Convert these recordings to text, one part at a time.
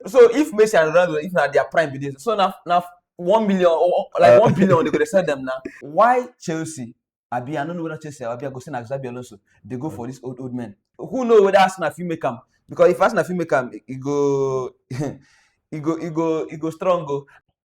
so if Messi and Ronaldo, if not their prime be this, so now now one million or like uh, one billion they could sell them now. Why Chelsea? I be I don't know whether Chelsea I be I go send Xabi Alonso. They go for this old old man. Who know whether Arsenal fit make him? Because if Arsenal fit make him, he go he go he go he go strong go. Oh.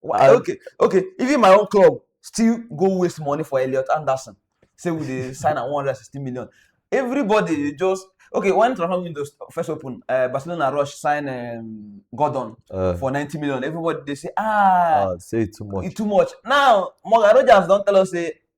Why- I- okay, okay. Even my own club still go waste money for Elliot Anderson. Say we dey sign at 160 million. Everybody dey just okay. When transfer window st- first open, uh, Barcelona rush sign um, Gordon Uh, for 90 million. Everybody dey say ah, uh, say it too much. e too much. Now Morgan Rogers don tell us say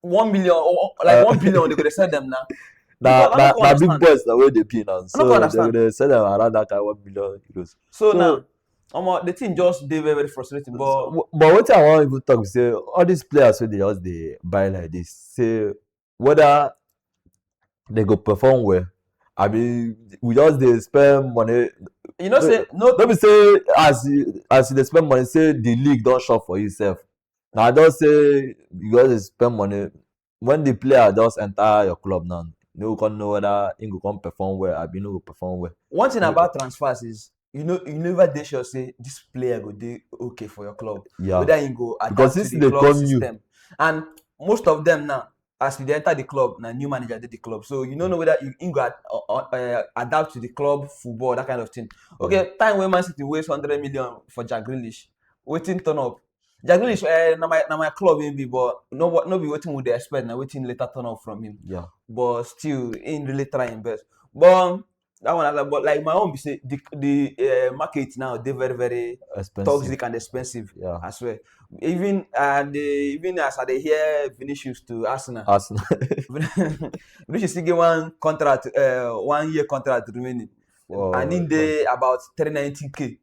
one million or like uh, one billion they could sell them now. Nah, nah, nah, big boys the way they be now. So they they sell them around that kind of one billion euros. So, so now, um, the team just they very very frustrating. But but what I want to talk say all these players so they just they buy like this. Say whether they go perform well. I mean, we just they spend money you know say no no be say as you as you dey spend money say the league don shop for you sef I don say you just dey spend money when the player just enter your club now you no go come know whether he go come perform well abi no go perform well. one thing about transfers is you know you never dey sure say this player go dey okay for your club yeah. whether he go adapt Because to since the they club come new- system and most of them now as you dey enter the club na new manager dey the club so you no know whether you him go ad, uh, uh, uh, adapt to the club football that kind of thing okay time wey man city waste hundred million for jack grealish wetin turn up jack grealish uh, na my na my club him be but no wa- no be wetin we dey expect na wetin later turn up from him Yeah. but still him really try him best but um, that one like but like my own be say the the uh, market now dey very very expensive. toxic and expensive yeah. as well even uh, the even as i dey hear vinicius to arsenal arsenal vinicius still get one contract uh, one year contract remaining Whoa, and he dey about three ninety k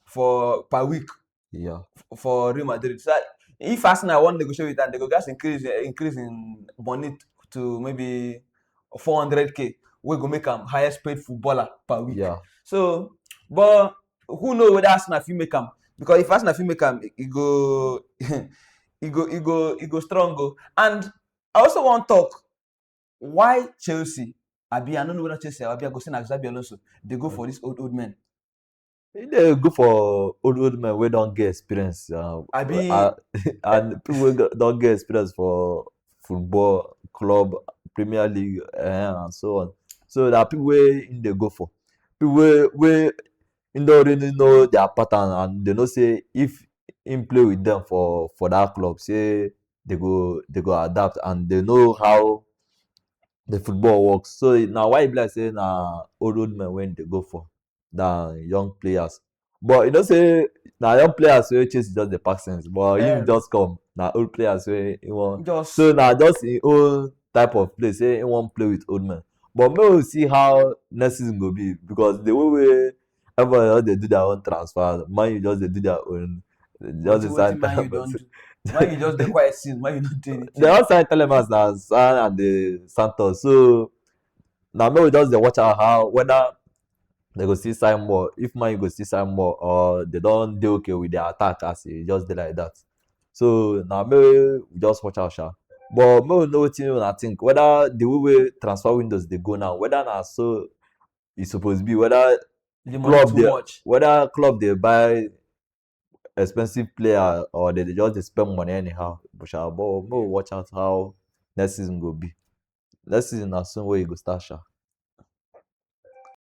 for per week Yeah. f- for Real Madrid. So I- if Arsenal want negotiate with them, they go just increase eh, increase in money to maybe 400k. We go make them highest paid footballer per week. Yeah. So, but who know whether Arsenal fit make am? Because if Arsenal fit make am, e go, e go, e go, e go strong go. And I also wan talk why Chelsea, abi I no know whether Chelsea abi I go say na Xabi Alonso dey go for this old old men. e dey good for old old men wey don get experience um, I be- uh, and people wey go- don get experience for football club premier league uh, and so on so na people wey im dey go for people wey wey im don really know their pattern and dey know say if im play with them for for that club say they go they go adapt and they know how the football works so na why e be like say na old old men wey im dey go for than young players. But you know, say now young players wey chase just the pass sense, but yeah. him just come now old players wey he want. Just. So now just in old type of play, say he want play with old men. But maybe we see how next season go be because the way we everybody else they do their own transfer, man you just they do their own. Just the same time. Why you just the quiet season? Why you not doing it? They all sign Telemans now, San and the Santos. So na make we just dey watch am how whether they go still sign more if man u go still sign more or they don dey okay with their attack as e just dey like that so na make we just watch am sha but make we know wetin una think whether the way wey transfer windows dey go now whether na so e suppose be whether the money Club too there. much whether club dey buy expensive player or they dey just dey spend money anyhow but sha but make we watch out how next season go be next season na so wey e go start sha